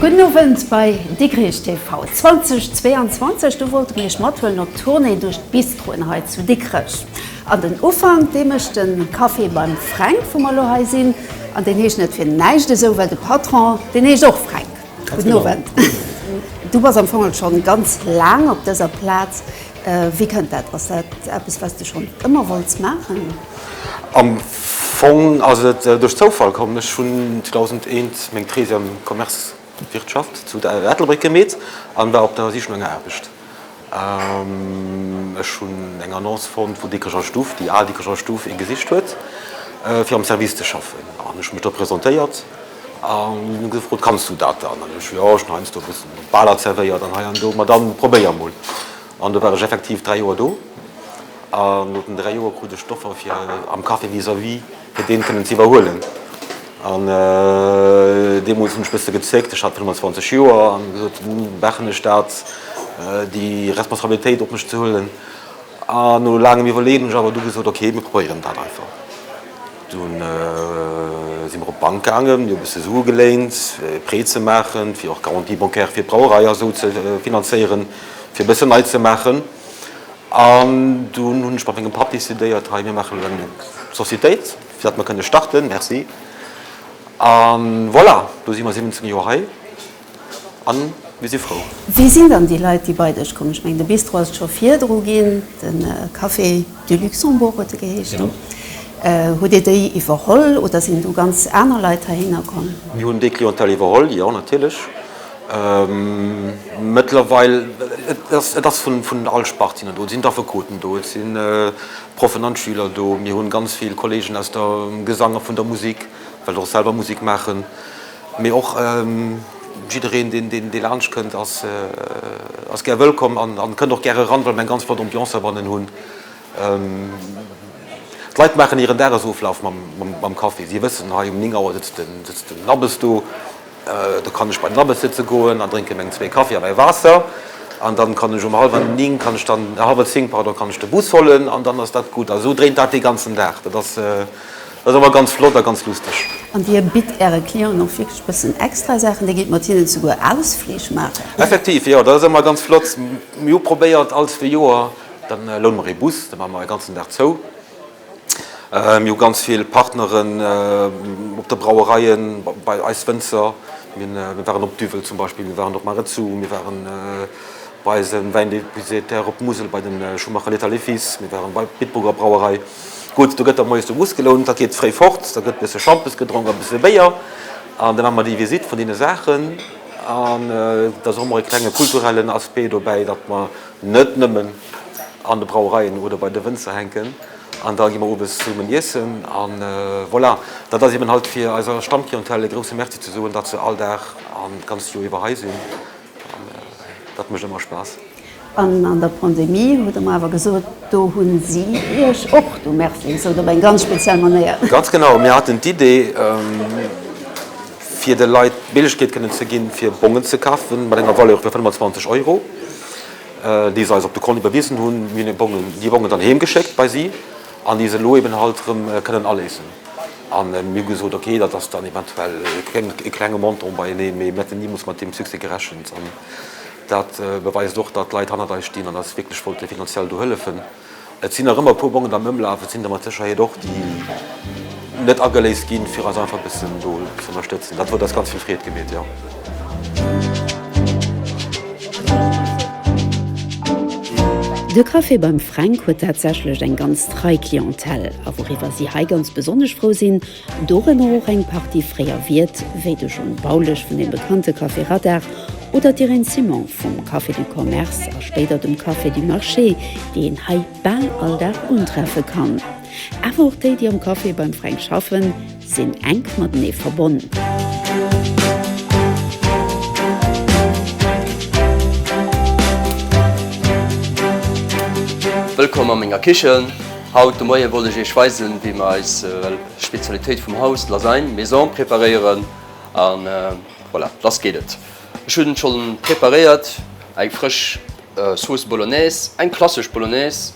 Gudden Owend bei Dikrich TV 2022. Do wollt mir iech mathuelen op Tournée duerch d'Bistroen hei zu Dikrech. An den Ufank dee mécht de Café beim Fränk wou mer elo hei sinn. An deen heescht net fir näischt esou well de Patron deen heescht och Fränk. Guten Owend. Du bass am Fongel schonn ganz laang op dëser Plaz. Wéi kënnt dat? Ass dat eppes, wat s de schonn ëmmer wollts maachen? Am Fong ass et duerch Zoufall komm. Ech hunn 2001 meng These am Commerce, Wirtschaft, zu Ettelbréck gemeet an war op der Sich no enger Aarbecht. Ech hunn eng Annonce fonnt vun Dikrecher Stuff, déi al Dikrecher Stuff, ee gesicht huet fir am Service ze schaffen an ech hu mech do presentéiert an hu gefrot, kanns du dat dann? An ech jo, ech hunn heiansdo e bëssen Baler zerwéiert an hei an do, ma dann probéier emol. An do war ech effektiv dräi Joer do an no den dräi Joer krut ech d'Offer fir am Café vis-à-vis, fir deen kënnen ze iwwerhuelen an deemols hunn ech bësse gezéckt, ech hat 25 Joer an gesot, machen ech dat déi Responsabilitéit op mech ze huelen an no laangem Iwwerleeën hunn ech awer du gesot, ok mir probéieren dat einfach. Dunn si mer op d'Bank gaangen, mir hu bësse Sue geléint fir e Prêt ze maachen, fir och d'Garantie bancaire fir d'Brauerei a sou ze finanzéieren, fir bësse nei ze maachen. An dunn hunn ech mat mengem Papp decidéiert, hei mir maachen elo eng Societéit, fir datt mer kënne starten. Merci. A voilà, elo si mer 17 Joer hei a mir si frou. Wie sinn dann déi Leit, déi bei dech kommen? Ech mengen, de Bistro ass et scho virdru ginn, de Café du Luxembourg huet e geheeschten. Hutt Dir déi iwwerholl oder sinn du ganz aner Leit heihinner komm? Mir hunn déi Clientèle iwwerholl, jo, natierlech. Mëttlerweil, et ass vun all Spart sinn der do. Et sinn d'Affekoten do, et si Proffen an d'Schüler do. Mir hunn ganz vill Kollegen aus dem Gesang a vun der Musik, well ech och selwer Musik maachen. Mee och jiddereen, dee laanscht kënnt, ass gär wëllkomm an kënnt och gäre eran, well mir eng ganz flott Ambiance heibannen hunn. D'Leit maachen hiren Dagesoflaf mam Kaffi. Si wëssen, hei um 9 Auer sëtzt den Abbes do, Do kann ech bei den Abes sëtze goen an drénke meng zwee Kaffi a mäi Waasser. An dann kann ech um hallwer néng, kann ech dann, hallwer zéng, pardon, kann ech de Bus hollen an dann ass dat gutt. A sou dréint dat dee ganzen Dag. Dat ass, dat ass ëmmer ganz flott a ganz lusteg. An Dir bitt Äre Clienten och wierklech e bëssen extra Saachen? Dir gétt mat hinnen souguer Ausflich maachen? Effektiv, jo. Dat ass ëmmer ganz flott. Mir hu probéiert, all zwee Joer, da loune mer ee Bus, da maache mer e ganzen Dag zou. Mir hu ganz vill Partneren op de Brauereien, bei eis Wënzer. Mir waren op Duvel zum Beispill, mir waren op Marezou, mir ware bei eise Wäindepositaire op Musel, bei de Schumacher Létard et Fils, mir ware bei der Bitburger Brauerei. Gutt, do gëtt da moies de Bus gelount, da geet fréi fort, da gëtt bësse Schampes gedronk a bësse Béier an da maache mer déi Visitt vun deene Saachen. An et ass och ëmmer e klenge kulturellen Aspect dobäi, datt mer net nëmmen. an de Brauereien oder bei de Wënzer hänken an da gi mer owes zesummen iessen a voilà. Dat ass eben halt fir eiser Stammclientèle e grouse Merci ze soen, datt se all Dag an d'ganzt Joer iwwer hei sinn an dat mécht ëmmer Spaass. An an der Pandemie hutt Der mer awer gesot, do hu si Iech och do Merci gesot op eng ganz speziell Manéier. Ganz genau, mir haten d'Idee fir de Leit d'Méiglechkeet kënnen ze ginn, fir Bongen ze kafen mat enger Valeur vu 25 Euro. déi se eis op de Kont iwwerwisen hunn, mir hunn Bongen, déi Bongen dann heem geschéckt bei si an déi se elo eben halt erëm kënnen aléisen. A mir hu gesot, okay, dat ass dann eventuell e klenge Montant beieneen, mee mir hätten deemools mat deem Succès gerechent. An dat beweist och, datt Leit hannert eis stinn an eis wierklech wollte finanziell do hëllefen. Et sinn nach ëmmer e puer Bongen am Ëmlaf, et sinn der mat Sécherheet och, déi net ageléist ginn, fir eis einfach e bëssen do ze ënnerstëtzen. Dat huet eis ganz vill Freed gemeet, jo. De Café beim Fränk huet tatsächlech eng ganz trei Clientèle. A wouriwwer si hei ganz besonnesch frou sinn, Dorënner och eng Partie fréier Wiert, wéi de John Baulisch vun dem bekannte Café Radar oder d'Irène Simon vum Café du Commerce a spéider dem Café du Marché, déi een hei bal all Dag untreffe kann. Awer och déi, déi am Café beim Fränk schaffen, sinn enk matenee verbonn. Wëllkomm a menger Kichen! Haut de Moien wollt ech Iech weisen wéi mer eis Spezialitéit vum Haus, d'Lasagne Maison preparéieren an voilà, lass geet et. Ech hunn schonn preparéiert, eng frësch Sauce Bolognese, eng klassesch Bolognese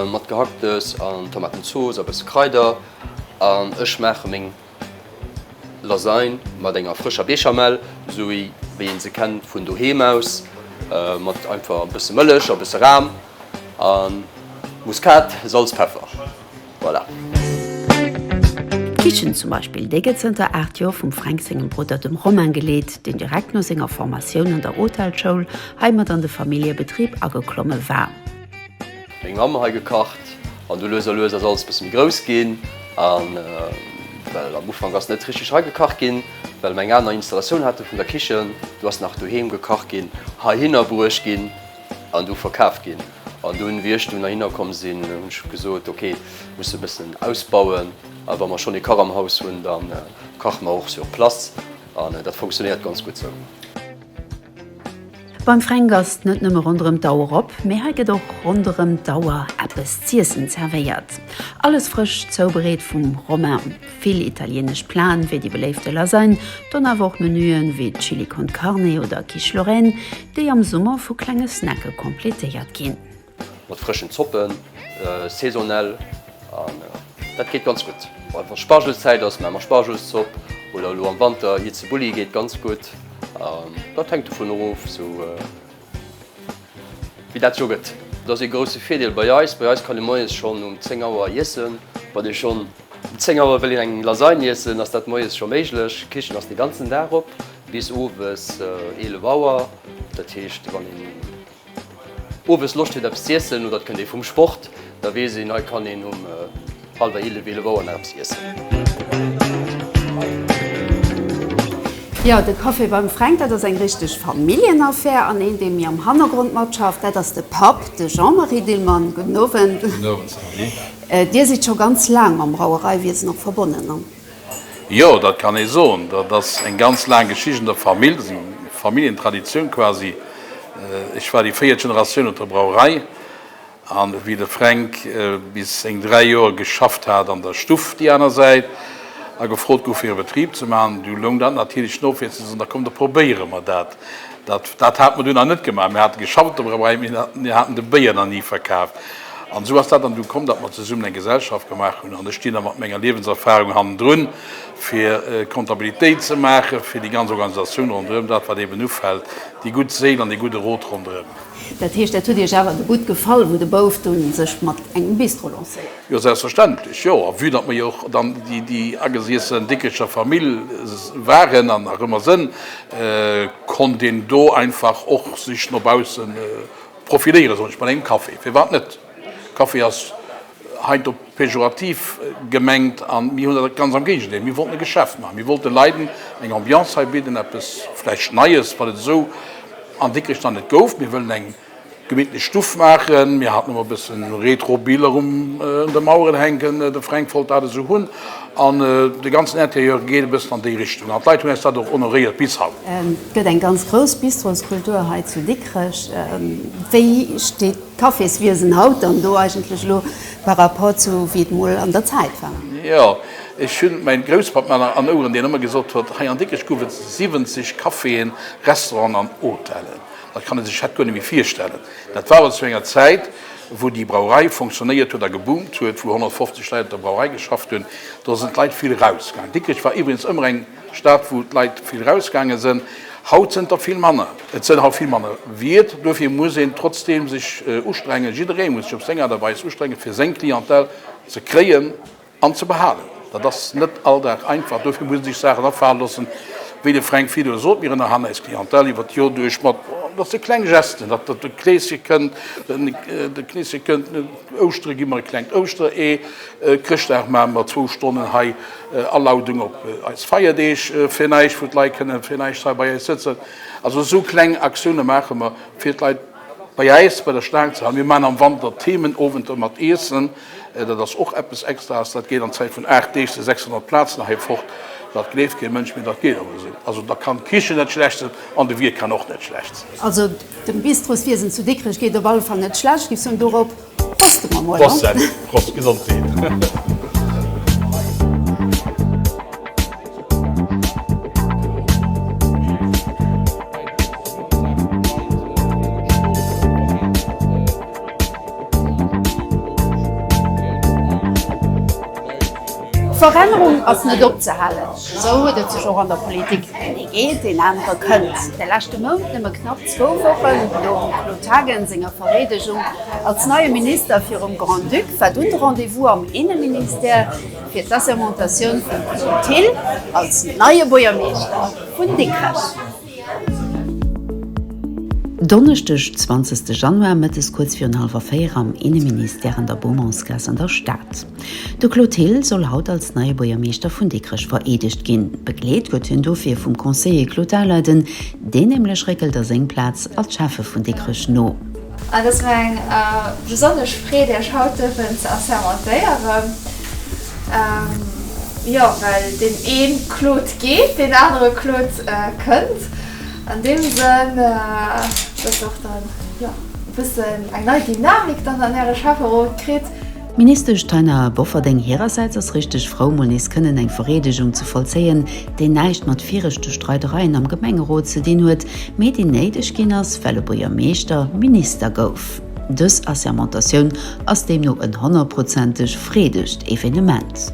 mat Gehacktes an Tomatenzooss a bësse Kraider an ech maache meng Lasagne mat enger frëscher Béchamel, sou wéi een se kennt vun doheem aus, mat einfach e bësse Mëllech a bësse Ram a Muskat, Salz, Peffer. Voilà. D'Kichen zum Beispill, déi gëtt zënter 8 Joer vum Fränk sengem Brudder, dem Romain, geleet, deen direkt no senger Formatioun an der Hotelschoul hei mat an de Familljebetrib ageklomme war. Meng Mamm hei gekacht an du lues a lues ass alles bësse méi grouss ginn an well am Ufank ass net richteg hei gekacht ginn well mer eng aner Installatioun hate vun der Kichen. Du ass nach doheem gekacht ginn, heihinner bruecht ginn an du verkaaft ginn an dunn wéi ech dunn heihinner komm sinn hunn ech gesot ok musse bëssen ausbauen a wa mer schonn ee Kach am Haus hunn da kache mer och sur place an dat funktionéiert ganz gutt sou. Beim Fränk ass et net nëmme ronderëm d'Auer op, mee hei gëtt och ronderëm d'Auer eppes z'iessen zervéiert. Alles frësch zoubereet vum Romain. Vill italienesch Plaen, wéi déi beléifte Lasagne, dann awer och Menuen wéi Chili con Carne oder Quiche Lorraine, déi am Summer vu klenge Snacke completéiert ginn. Mat frëschen Zoppen, saisonell, an dat geet ganz gutt. Wann et Spargelszäit ass, maache mer Spargelszopp, oder elo am Wanter hir Zeboulli geet ganz gutt. Dat hänkt dovun of, wéi dat sou gëtt. Dat ass ee grousse Virdeel bei eis. Bei eis kann ee moies schonn um 10 Auer iessen. Wann ee schonn um 10 Auer wëll eng Lasagne iessen, ass dat moies scho méiglech. D'Kichen ass dee ganzen Dag op, bis owes 11 Auer. Dat heescht, wann een Owes Loscht huet eppes z'iessen oder et kënnt ee vum Sport, da weess een, hei kann een um hallwer eelef, eelef Auer nach eppes iessen. Jo, de Café beim Fränk, dat ass eng richteg Familljenaffär an een, dee mir am Hannergrond matschafft, dat ass de Papp, de Jean-Marie Dillmann. Gudden Owend. Gudden Owend, Sylvie. Dir sidd scho ganz laang mam Brauereiwiesen och verbonnen, an? Jo, dat kann ee soen. Dat ass eng ganz laang Geschicht an der Famill. Dat ass eng Familljentraditioun quasi. Ech war déi véiert Generatioun op der Brauerei. An wéi de Fränk bis seng dräi Joer geschafft hat an der Stuff déi aner Säit a gefrot gouf fir e Betrib ze maachen, du loung dat natierlech no fir ze soen, da komm da probéiere mer dat. Dat hate mer dunn nach net gemaach. Mir hate geschafft op der Brauerei, mee mir haten de Béier nach ni verkaaft. An esou ass dat dann du komm, datt mer zesummen eng Gesellschaft gemaach hunn. An ech stinn da mat menger Liewenserfarung hannendrun, fir d'Kontabilitéit ze maachen, fir déi ganz Organisatioun ronderëm, dat wat eeben ufält, déi gutt Séil an dee gudde Rot ronderëm. Dat heescht, dat huet Iech awer gutt gefall, wou de Bouf dunn sech mat engem Bistro lancéiert huet? Jo, selbstverständlech, jo. A vue datt mer jo och dann déi ageseessen Dickecher Famill waren an nach ëmmer sënn, konnt een do einfach och sech no baussen profiléieren, soll ech mat engem Café. Firwat net? Café ass heiansdo pejorativ gemengt an mir hunn dat ganz am Géigendeel. Mir wollten e Geschäft maachen. Mir wollten de Leiden eng Ambiance hei bidden, eppes vläicht Neies, wat et esou an Dikrech nach net gouf. Mir wëllen eng. Gemittlich Stuff maachen. Mir haten emol e bëssen retro Biler un de Maueren hänken, de Fränk wollt dat esou hunn an de ganzen Interieur geet e bëssen an déi Richtung an d'Leit hunn äis dat och honoréiert bis haut. Et gëtt eng ganz grouss Bistroskultur hei zu Dikrech. Wéi steet d'Caféswiesen haut dann do eigentlech elo par rapport zu wéi et mol an der Zäit war? Jo, ech hu mäi Grousspapp nach an Oueren, deen ëmmer gesot huet, hei an Dikrech gouf et 70 Caféen, Restauranten an Hotellen. Dat kann ee sech haut guer net méi virstellen. Dat war awer zu enger Zäit, wou déi Brauerei funktionéiert huet a geboomt huet, wou 150 Leit op der Brauerei geschafft hunn. Do sinn d'Leit vill erausgaangen. Dikrech war iwweregens ëmmer eng Stad, wou d'Leit vill erausgaange sinn. Haut sinn der vill manner. Et sinn haut vill manner Wiert. Duerfir muss een trotzdeem sech ustrengen, jidderee muss sech op seng Aart a Weis ustrenge fir seng Clientèle ze kréien. An ze behalen. Dat ass net all Dag einfach. Dofir muss een sech Saachen afale loossen, wéi de Fränk Fillon sot, Mir ënnerhalen eis Clientèle iwwert d'Joer duerch mat, dat si kleng Gesten, datt der de Kleeschen kënnt, de Kleeschen kënnt, Ouschtere gi mer e klengt Ouschteree, Chrëschtdag maache mer zwou Stonnen hei Alaudung op eis Feierdeeg fir näischt, wou d'Leit kënnen fir näischt hei bei eis sëtzen. Also esou kleng Aktioune maache mer, fir d'Leit. Bei äis bei der Staangzell, mir maachen am Wanter Themenowenter mat Iessen, dat ass och eppes Extraes, dat geet an Zäit vun 8 Deeg zu 600 Plazen hei fort, dat gleeft kee Mënsch, mee dat geet awer esou. Also da kann d'Kichen net schlecht sinn an de Wiert kann och net schlecht sinn. Also dem Bistroswiesen zu Dikrech geet op alle Fall net schlecht, giff soen, dorop. Proste mer mol. Prost Sally, Prost Gesondheet. Verännerung ass net opzehalen, esou huet et sech och an der Politik. Ee geet, een anere kënnt. De leschte Mount nëmme knapp Zwou Wochen nom Claude Haagen senger Vereedegung als neie Minister virum Grand-Duc war dunn de Rendez-vous am Inneministère fir d'Assermentatioun vum Claude Thill als neie Buergermeeschter vun Dikrech. Donneschdeg 20 Januar, Mëttes kuerz virun hallwer 4 am Inneministère an der Beaumontsgaass an der Stad. De Claude Thill soll haut als neie Buergermeeschter vun Dikrech vereedegt ginn. Begleet gëtt hien dofir vum Conseiller Claude Dahleiden, deen nämlech réckelt a seng Plaz als Schäffe vun Dikrech no. Et ass mir eng besonnesch Freed Iech haut dierfen ze assermentéieren. Jo, well deen ee Claude geet, deen anere Claude kënnt. An deem Sënn datt och dann e bëssen eng nei Dynamik dann an Äre Schäfferot kritt. D'Ministesch Taina Bofferding hirersäits ass richteg frou, mol nees kënnen eng Vereedegung ze vollzéien, déi näischt mat viregte Streidereien am Gemengerot ze dinn huet, mee déi néideg ginn ass, well e Buergermeeschter Minister gouf. Dës Assermentatioun ass deemno en honnertprozenteg freedegt Evenement.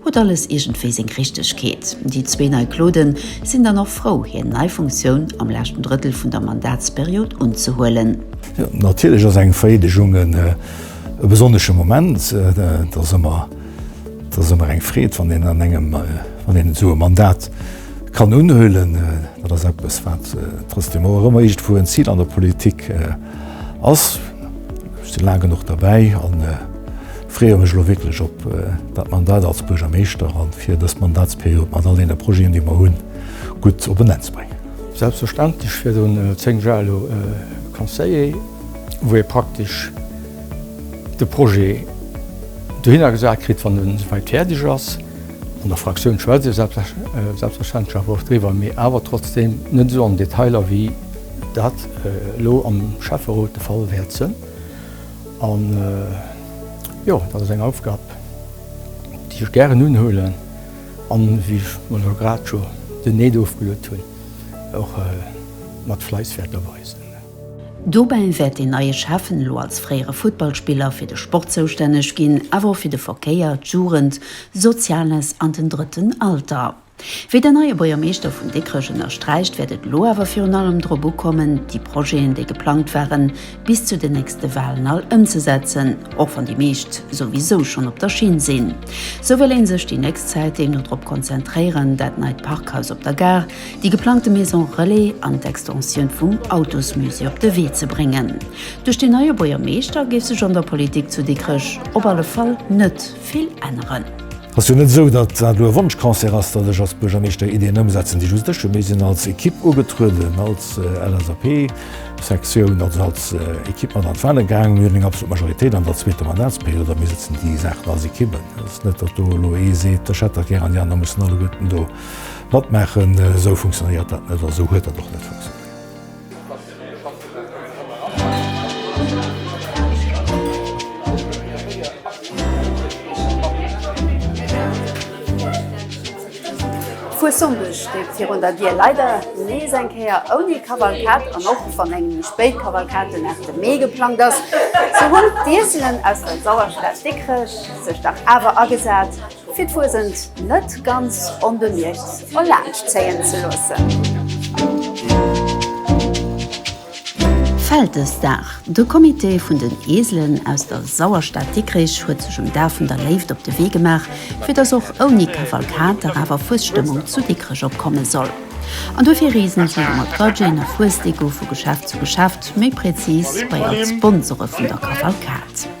Huet alles iergendwéi seng Richtegkeet. Déi zwee nei Clauden sinn dann och frou, hir nei Funktioun am leschten Drëttel vun der Mandatsperiod unzehuelen. Natierlech ass eng Vereedegung e besonnesche Moment. Et ass ëmmer eng Freed, wann een an engem, wann een esou e Mandat kann unhuelen. Dat ass eppes, wat trotzdem och ëmmer iergendwou en Zil an der Politik ass. Ech si laang genuch derbäi. Freeë mech elo wierklech op dat Mandat als Buergermeeschter an fir dës Mandatsperiod mat all deene Projeten, déi mer hunn, gutt op en Enn ze bréngen. Selbstverständlech fir dunn 10 Jar elo Conseiller, wou ee praktesch de Projet dohinner gesat kritt, wann en souwäit fäerdeg ass. An der Fraktioun schwätzt ee selbstverständlech awer och driwwer, mee awer trotzdeem net esou am Detail, wéi dat elo am Schäfferot de Fall wäert sënn. An jo, dat ass eng Aufgab, déi ech gären unhuelen, an wéi ech mol elo grad scho den Need ofgeluet hunn, och mat Fleiss wäert erweisen. Dobäi wäert deen neie Schäffen, elo als fréiere Futtballspiller, fir de Sport zoustänneg ginn, awer och fir de Verkéier, d'Jugend, Soziales an den drëtten Alter. Wéi den neie Buergermeeschter vun Dikrech ënnersträicht, wäert et elo awer virun allem drop ukommen, déi Projeten, déi geplangt waren, bis zu den nächste Walen all ëmzesetzen, och wann déi meescht souwisou schonn op der Schinn sinn. Sou wëll ee sech déi nächst Zäit deemno drop konzentréieren, dat neit Parkhaus op der Gare, déi geplangte Maison Relais an d'Extensioun vum Autosmusée op de Wee ze bréngen. Duerch deen neie Buergermeeschter géif sech an der Politik zu Dikrech op alle Fall net. vill änneren. Ass jo net esou, datt dat elo e Wonschconcert ass, datt ech als Buergermeeschter Ideeën ëmsetzen, déi just ech hunn. Mir sinn als Ekipp ugetrueden, als LSAP-Sektioun, also als Ekipp mat an d'Wale gaangen. Mir hunn eng absolut Majoritéit an der zweeter Mandatsperiod a mir setzen déi Saachen als Ekipp ëm. Et ass net, datt do elo ee seet, ech hätt dat gär an déi aner mussen alleguerten do matmaachen. Esou funktionéiert dat net a esou huet dat och net funktionéiert. Vu Sonndeg steet virun der Dier leider nees eng Kéier ouni Kavalkad an och wann eng méi spéit Kavalkad den 8 Mee geplangt ass, sou hunn d'Ieselen aus der Sauerstad Dikrech sech dach awer agesat. fir d'Fuesent net ganz onbemierkt erlaanscht zéien ze loossen. Vältesdag, De Comité vun den Eeselen aus der Sauerstad Dikrich huet sech um Dag vun der Léift op de Wee gemaach, fir dass och ouni Kavalkade awer Fuesstëmmung zu Dikrech opkomme soll. An duerfir reesen si mat Budgeten a Fuesdeko vu Geschäft zu Geschäft, méi präzis bei all d'Sponsore vun der Kavalkad.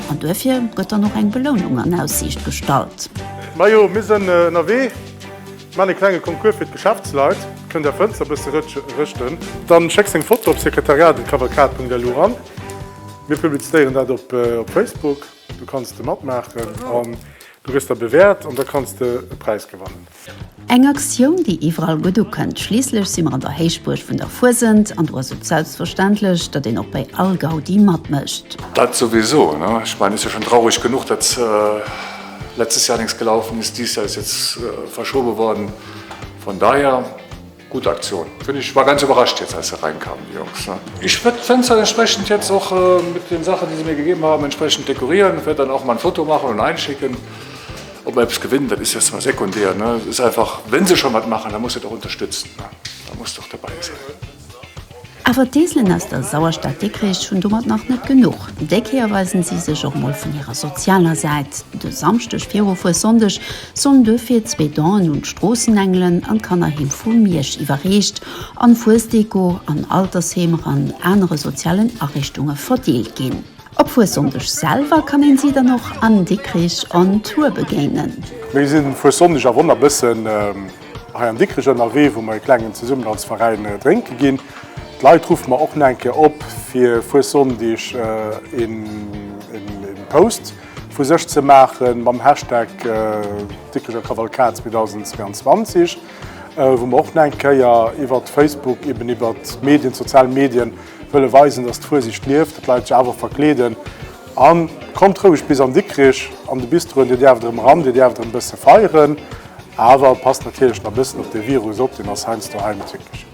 An duerfir gëtt dann och eng Belounung an Aussiicht gestallt. Majo, mir sënn ënnerwee, man e klenge Concours fir d'Geschäftsleit, kënnt är Fënster bësse rëschten. Dann schéck seng Foto op sekretariat@kavalkad.lu ran, mir publiztéieren dat op Facebook, du kanns de matmaachen an du gëss da bewäert an da kanns de e Präis gewannen. Eng Aktioun, déi iwwerall gutt ukënnt. Schliisslech si mer an der Héichbuerg vun der Fuesent an do ass et selbstverständlech, datt een och bei all Gaudi matmécht. Dat souwisou, ne? Ech mengen, et ass jo schonn traureg genuch, datt letztes Jahr nix gelaufen ist, dieses Jahr ist jetzt verschoben worden, von daher. Gudd Aktio'n. Finn ech war ganz überrascht jetzt als se reinkamen die Jungs ne. Ich werd Fenster entsprechend jetzt och mit den Sachen die sie mir gegeben haben entsprechend dekorieren, werd dann auch mal ein Foto machen und einschicken. Ob mer eppes gewinnen, dat is jetzt mal sekundär ne, es ist einfach wenn se schon wat machen, da muss se et och unterstützen ne, da muss doch dabei sein. Awer d'Eselen aus der Sauerstad Dikrich hunn domat nach net genuch. Déi Kéier weisen si sech och mol vun hirer sozialer Säit. De Samschdeg viru Fuessonndeg sollen duerfir zwee Donen un d'Stroossenengelen an d'Kannerheem vu Miersch iwwerreecht an Fuesdeko an Altersheemer an anere sozialen Ariichtunge verdeelt ginn. Op Fuessonndeg selwer kann een si dann och an Dikrich on Tour begéinen. Mir sinn Fuessonndeg a Wonnerbëssen. Hei an Dikrech ënnerwee, wou mer ee klengen Zesummenhaltsveräin drénke ginn. D'Leit ruffe mer och nach eng Kéier op, fir Fuessonndeg ee Post vu sech ze maache mam Hashtag Dikrecher Kavalkad 2022, wou mer och nach eng Kéier iwwert Facebook, eben iwwert d'Medien, d'sozial Medien, wëlle weisen, dass d'Fuesigt lieft, dass d'Leit sech awer verkleeden. A kommt roueg bis an Dikrech an de Bistroen, Dir däerft erëm eran, Dir däerft erëm e bësse feieren. Awer passt natierlech na bëssen op de Virus op, deen ass heiansdo heimtücklich.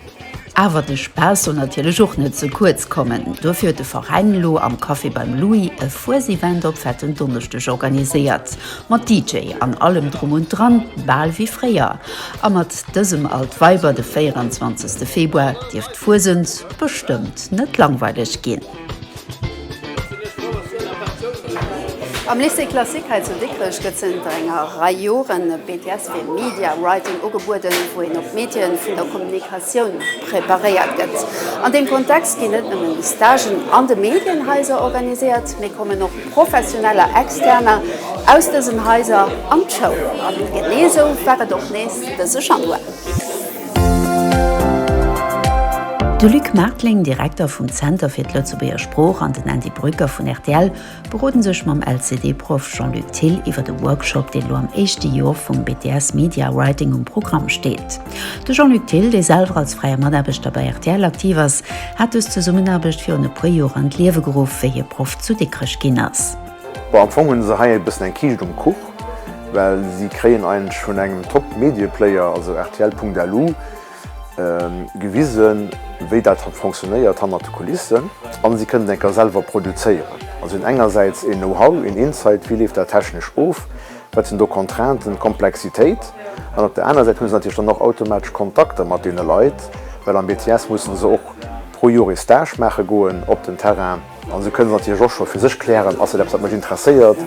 Awer de Spaass soll natierlech och net ze kuerz kommen. Duerfir huet de Veräin elo am Café beim Louis e Fuesevent op Fetten Donneschdeg organiséiert. Mat DJ an allem drum und dran, bal wéi fréier. A mat dësem Alt Weiber de 24 Februar dierft d'Fuesent bestëmmt net langweilig ginn. Am Lycée Classique hei zu Dikrech gëtt zënter enger Rei Joren e BTS fir Media Writing ugebueden, wou een op d'Medie vun der Kommunikatioun preparéiert gëtt. An deem Kontext ginn net nëmmen Stagen an de Medienhaiser organiséiert, mee kommen och professioneller Externer aus dësen Haiser an d'Schoul. An genee esou war et och nees dëse Januar. De Luc Martling, Direkter vum Zenter fir d'Lëtzebuerger Sprooch an den Andy Brücker vun rtl berode sech mam LCD-Proff Jean-Luc Thill iwwer e Workshop, deen elo am éischte Jor vum BTS Media Writing um Programm steet. De Jean-Luc Thill, dee selwer als fräie Mataarbechter bei rtl aktiv ass, hat dës Zesummenaarbecht virun e puer Joer an d'Liewe geruff, wéi hie Proff zu Dikrech ginn ass. Bon, am Fong hunn se hei e bëssen eng Kiischt um Kuch, well si kréien eigentlech vun engem Top-Medieplayer, also rtl.lu, gewisen, wéi dat fonctionnéiert hannert de Kulissen. A si kënnen enker selwer produzéieren. Also si hunn engersäits een Know-how, een Insight, wéi leeft dat technesch of, wat sinn do d'Contrainten, d'Komplexitéit. An op der anerer Säit hu se natierlech dann och automatesch Kontakter mat deene Leit, well am BTS musse se och pro Joer ee Stage maache goen op den Terrain. Also kënnen se natierlech och scho fir sech klären, Ass dat eppes, wat mech interesséiert?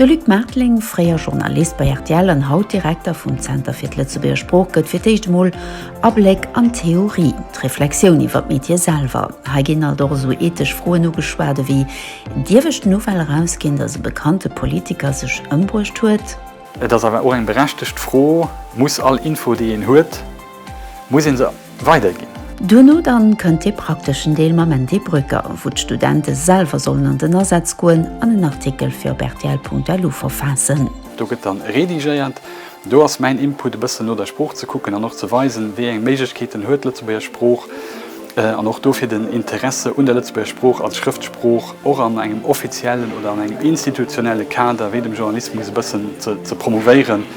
De Luc Marteling, fréier Journalist bei rtl an haut Direkter vum Zenter fir d'Lëtzebuerger Sprooch, gëtt fir d'éischt emol Abléck an d'Theorie, d'Reflexioun iwwer d'Metier selwer. Hei ginn alt och esou ethesch Froen ugeschwat ewéi, Dierf ech d'Nouvelle erausginn, datt e bekannte Politiker sech ëmbruecht huet? Et ass awer och eng berechtegt Fro, Muss all Info, déi een huet, Muss een se weider ginn? Duerno dann kënnt dee prakteschen Deel mam Andy Brücker, wou d'Studente selwer sollen an den Asaz goen an en Artikel fir op rtl.lu verfaassen. Do gëtt dann redigéiert. Do ass mäin Input e bëssen no der Sprooch ze kucken an och ze weisen, wéi eng Méiglechkeeten huet d'Lëtzebuerger Sprooch an och dofir den Interesse un der Lëtzebuerger Sprooch als Schrëftsprooch och an engem offiziellen oder an engem institutionelle Kader wéi dem Journalismus e bëssen ze promouvéieren.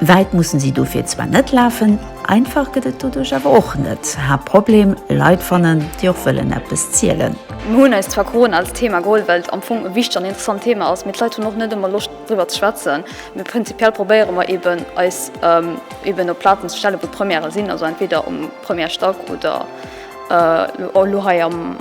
Wäit mussen si dofir zwar net lafen, einfach gëtt et doduerch awer och net. Haaptproblem, Leit fannen, déi och wëllen eppes zielen. Mir hunn eis zwar Corona als Thema geholl, well et am Fong e wichteg an interessant Thema ass, mee d'Leit hunn och net ëmmer Loscht driwwer ze schwätzen. Mee prinzipiell probéiere mer eeben, eis eeben op Plazen ze stellen, wou d'Premièrë sinn, also entweder um Première Stack oder elo hei am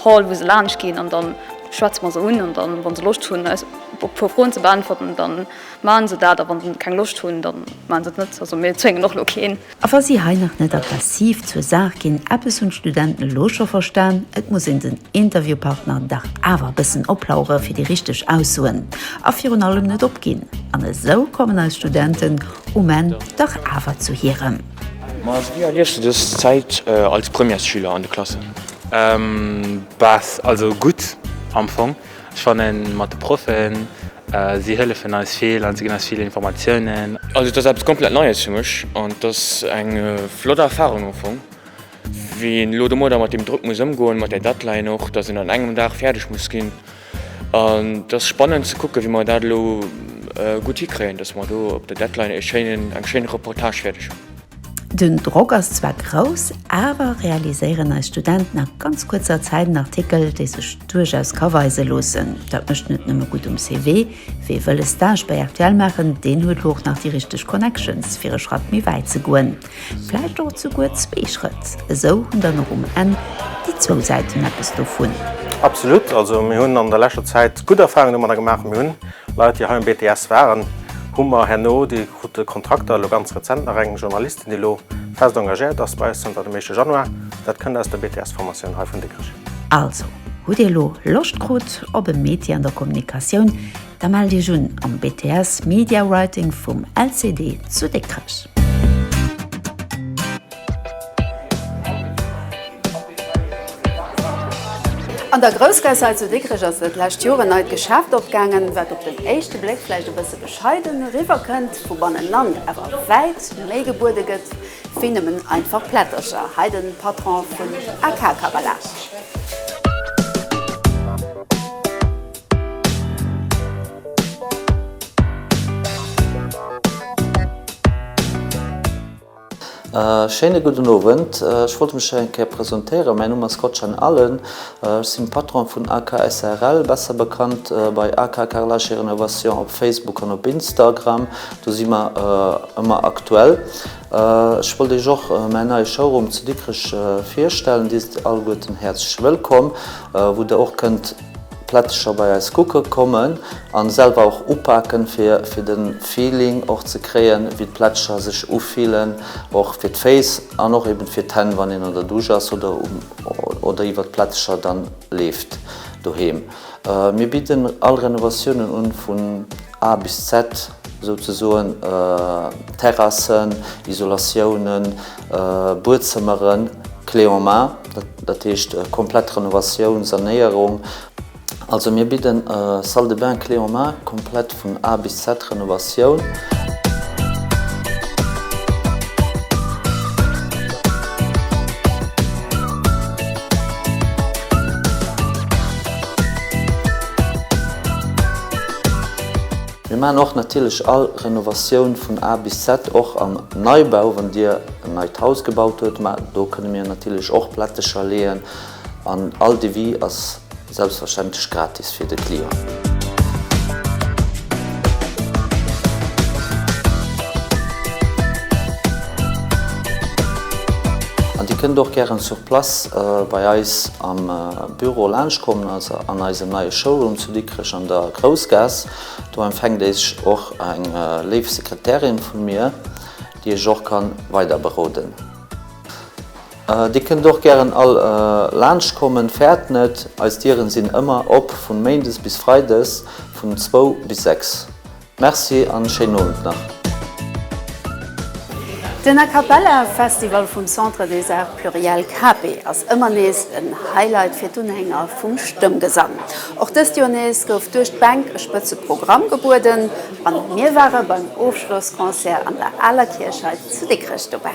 Hall, wou se laanscht ginn. An da schwätze mer se un, an da, wa se Loscht hunn, eis e puer Froen ze beäntwerten, dann Maachen se dat, a wann se keng Loscht hunn, da maachen se et net. Also mir zwéngen och elo keen. A wa si hei nach net aggressiv zur Saach ginn, eppes hunn d'Studenten elo scho verstan, et muss een den Interviewpartner dach awer e bëssen oplauere fir déi richteg Aussoen a virun allem net opginn. An esou kommen eis Studenten um Enn dach awer zu hirem. Ma wéi erliefs du dës Zäit als Premièresschüler an de Klassen? Bäh, also gutt am Fong. Ech fannen mat de Proffen, si hëllefen eis vill an si ginn eis vill Informatiounen. Also et ass eppes komplett Neies fir mech an et ass eng flott Erfarung am Fong, wéi een elo domadder mat deem Drock muss ëmgoen, mat där Deadline och, datt een an engem Dag fäerdeg muss ginn. An et ass spannend ze kucken, wéi mer dat elo gutt hikréien, datt mer do op der Deadline ee schéinen, eng schéin Reportage fäerdeg hunn. Den Drock ass zwar grouss, awer realiséieren eis Studenten a ganz kuerzer Zäit en Artikel, dee sech duerchaus ka weise loossen. Dat mécht net nëmme gutt um CV. Wie wëll e Stage bei rtl maachen, deen huet elo och nach déi richteg Connections, fir e Schratt méi wäit ze goen, vläicht och souguer zwee Schrëtt. Esou hunn dann och um Enn déi zwou Säiten eppes dovun. Absolut! Also mir hunn an der leschter Zäit gutt Erfahrungen domadder gemaach. Mir hunn Leit déi hei um BTS waren hu mer herno, déi krut de Kontrakter elo ganz rezent, nach eng Journalistin déi lo fest engagéiert ass bei eis zanter dem éischte Januar, dat kënnt aus der BTS Formatioun hei vun Dikrech. Also, hutt Dir elo Loscht krut op e Métier an der Kommunikatioun, da mellt Iech un am BTS Media Writing vum LCD zu Dikrech. An der Groussgaass hei zu Dikrech ass dat lescht Joer en neit Geschäft opgaangen, wat op den éischte Bléck vläicht e bësse bescheiden eriwwer kënnt, vu bannenan awer wäit méi gebuede gëtt wéi nëmmen einfach Plättercher. Hei de Patron vun AK Cavalage. Schéine gudden Owend. Ech wollt mech eng Kéier presentéieren. Mäin Numm ass Gotschaln Allen. Ech sinn Patron vun AK SARL, besser bekannt bei AK Carrelage et Rénovation op Facebook an op Instagram. Do si mer ëmmer aktuell. Ech wollt Iech och mäin neie Showroom zu Dikrech virstellen. Dir sidd alleguerten häerzlech wëllkomm, wou der och kënnt. Plättecher bei eis kucke kommen an selwer och upaken fir fir den Feeling och ze kréien wéi d'Plättecher sech ufillen och fir d'Féiss an och eben fir d'Hänn wann een an der Dusch ass oder um oder iwwert d'Plättecher dann leeft doheem. Mir bidden all Renovatiounen un vun A bis Z souzesoen, Terrassen, Isolatiounen, Buedzëmmeren clé en main, dat heescht komplett Renovatioun, Sanéierung. Also mir bidden Salle de bain clé en main, komplett vun A bis Z Renovatioun. Mir maachen och natierlech all Renovatioun vun A bis Z, och am Neibau, wann Dir en neit Haus gebaut hutt, mä do kënne mir natierlech och Plättecher leeën an all Devis ass selbstverständlech gratis fir de Client. An Dir kënnt och gären sur place bei eis am Büro laanscht kommen, also an eisem neie Showroom. Dikrech an der Groussgaass. Do empfänkt Iech och eng léif Sekretärin vu mir, déi Iech och kann weider beroden. Dir kënnt och gären all laanscht kommen, fäert net, eis Dieren sinn ëmmer op vun Méindes bis Freides vun zwou bis sechs. Merci an schéinen Owend nach. Den A Cappella Festival vum Centre des Arts Pluriels Cape ass ëmmer nees en Highlight fir d'Unhänger vum Stëmmgesang. Och dëst Joer nees gouf duerch d'Bänk e spëtze Programm gebueden an mir ware beim Ofschlossconcert an der Aler Kierch hei zu Dikrech dobäi.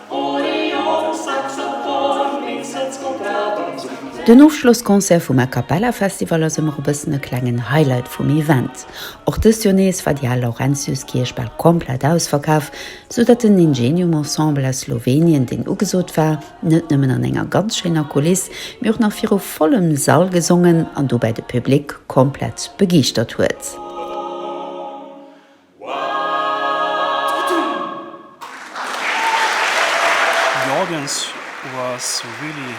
Den Ofschlossconcert vum A Cappella Festival ass ëmmer e bëssen e klengen Highlight vum Event. Och dëst Joer nees war déi al Laurentiuskierch bal komplett ausverkaf, sou datt den Ingenium Ensemble aus Slowenien, deen ugesot war, net nëmmen an enger ganz schéiner Kuliss, mee och nach viru vollem Sall gesongen an dobäi de Public komplett begeeschtert huet. The audience was really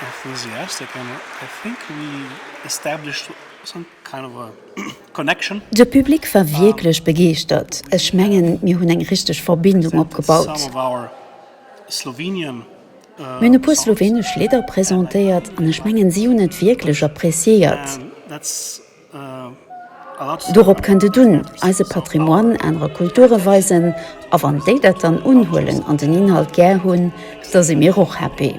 enthusiastic and I think we established some kind of a connection. De Public war wierklech begeeschtert. Ech mengen, mir hunn eng richteg Verbindung opgebaut. Mir hunn e puer slowenesch Lidder presentéiert an ech mengen, si hunn et wierklech appreciéiert. Dorop kënnt et un, eise Patrimoine anere Kulture weisen, a wann déi dat dann unhuelen an den Inhalt gär hunn, da si mir och happy.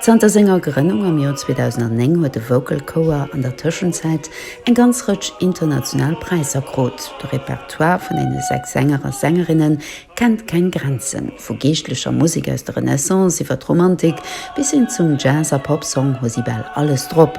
Zanter senger Grënnung am Joer 2009 huet de Vocal Chouer an der Tëschenzäit eng ganz Rëtsch international Präisser krut. De Repertoire vun deene sechs Sänger a Sängerinne kennt keng Grenzen, vu geeschtlecher Musek aus der Renaissance iwwer d'Romantik bis hin zum Jazz a Popsong hu si bal alles drop.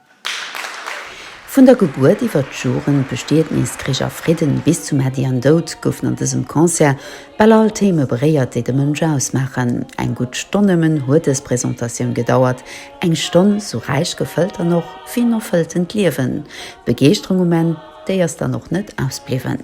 Vun der Gebuert iwwer d'Joren, Bestietnis, Krich a Fridden bis zu Mäddi an Doud goufen an dësem Concert bal all Theme beréiert, déi de Mënsch ausmaachen. Eng gutt Stonn nëmmen huet dës Presentatioun gedauert, eng Stonn sou räich gefëllt an och wéi en erfëlltent Liewen. D'Begeeschterung um Enn, déi ass dann och net ausbliwwen.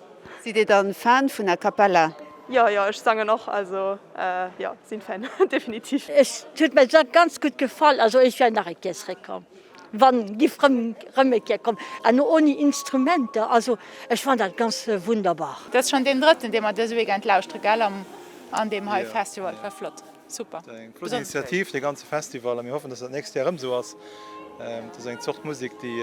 Sidd dir dann Fan vun A Cappella? Jo jo ech sangen och also jo sin Fan definitiv. Et huet mer se ganz gutt gefall, also ech wär nach e Kéier zréck komm wann giff rëm e Kéier kommen an no oni Instrumenter, also ech fand dat ganz wunderbar. Dass schon deen drëtten dee mer dëse Weekend lauschteren gell an deem hei Festival war flott. Super. Dat ass eng flott Initiativ, dee ganze Festival, a mir hoffen, datt dat d'nächst Joer erëm esou ass. Dat ass eng Zort Musek, déi,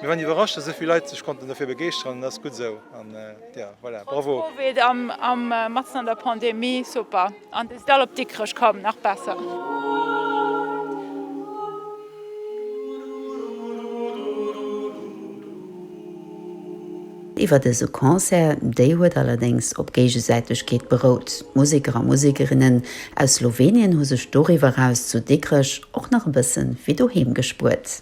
mir waren iwwerrascht, datt esou vill Leit sech konnten dofir begeeschteren, dat ass gutt esou. An jo, voilà, bravo. Trotz Covid a matzen an der Pandemie, super. An déi Stall op Dikrech koum, nach besser. Iwwer dëse Concert, déi huet allerdéngs op Géigesäitegkeet berout. D'Museker a Musekerinnen aus Slowenien hu sech doriwwer eraus zu Dikrech och nach e bësse wéi doheem gespuert.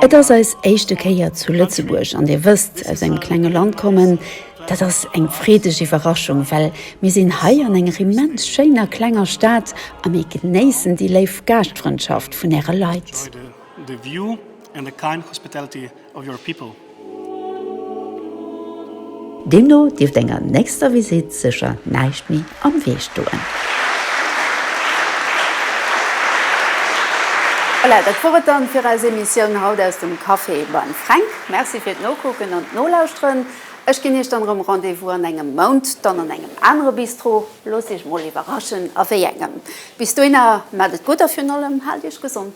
Et ass eis éischte Kéier zu Lëtzebuerg an Dir wësst, aus engem klenge Land kommen, dat ass eng freedeg Iwwerraschung, well mir sinn hei an enger immens schéiner klenger Stad a mir genéissen déi léif Gaaschtfrëndschaft vun Äre Leit. The view and the kind hospitality of your people. Deemno dierft enger nächster Visitt sécher näischt méi am Wee stoen. Voilà, dat wor et dann fir eis Emissioun haut aus dem Café beim Fränk. Merci fir d'Nokucken an d'Nolauschteren. Ech ginn Iech dann erëm Rendez-vous an engem Mount, dann an engem anere Bistro. Loosst Iech mol iwwerraschen a wéi engem. Bis dohinner, maacht et gutt a virun allem, haalt Iech gesond.